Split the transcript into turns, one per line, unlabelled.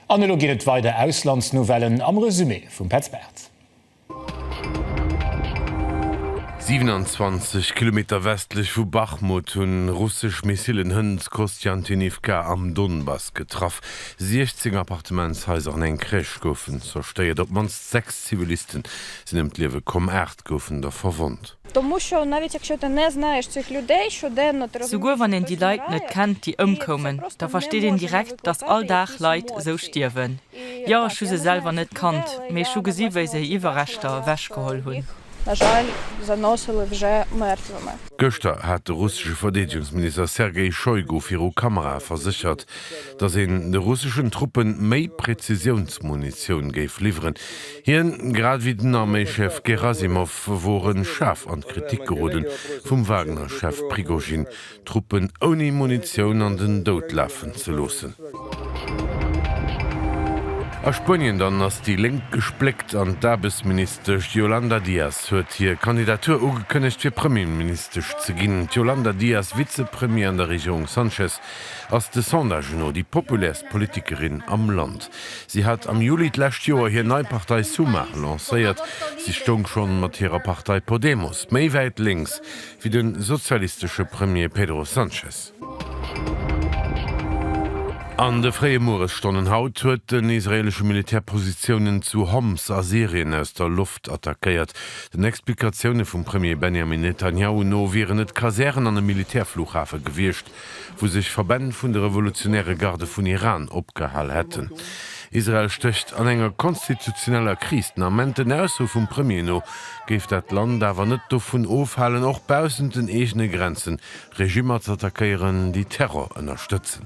An elo geet et weider, Auslandsnouvellen am Resumé vum Petz Bartz. 27
Kilometer westlech vu Bachmut hunn russesch Missillen Hënt Kostjantinivka am Donbass getraff. 16 Appartementshaiser an eng Crèche goufen zerstéiert. Op d'mannst sechs Ziviliste sinn ëm d'Liewe komm, aacht goufen der verwonnt.
Souguer wann een déi Leit net kennt, déi ëmkoumen, da versteet een direkt, datt all Dag Leit esou stierwen. Jo, ech hu se selwer net kannt, mee ech hu gesi wéi se hir Iwwerreschter ewechgeholl hunn.
Gëschter hat de russesche Verdeedegungsminister Sergei Shoigu viru Kamerae verséchert, datt een de russeschen Truppe méi Prezisiounsmunitioun géif liwweren. Hien, grad ewéi den Arméischef Gerasimov, wore schaarf an d'Kritik geroden, vum Wagner-Chef Prigozhin d'Truppen ouni Munitioun an den Doud lafen ze loossen. A Spuenien dann ass déi Lénk gespléckt an d'Aarbechtsministesch Yolanda Díaz huet hir Kandidatur ugekënnegt fir Premierministesch ze ginn. D'Yolanda Díaz, Vizepremier an der Regierung Sánchez, ass de Sondagen no déi populärst Politikerin am Land. Si hat am Juli d'lescht Joer hir nei Partei Sumar lancéiert. Si stoung schonn mat hirer Partei Podemos méi wäit lénks wéi de sozialistesche Premier Pedro Sanchez. An de fréie Mueresstonnen haut huet den israeelesche Militär Positiounen zu Homs a Syrien aus der Loft attackéiert. Den Explikatioune vum Premier Benjamin Netanjahu no wieren et Kasären an e Militärflughafe gewiescht, wou sech Verbänn vun de revolutionäre Garde vun Iran opgehal hätten. Israel stécht an enger konstitutioneller Kris. Den Ament, den Ausso vum Premier no, géif dat d'Land awer net dovun ofhalen, och baussent den eegene Grenzen Regimmer z'attackéieren, déi Terror ënnerstëtzen.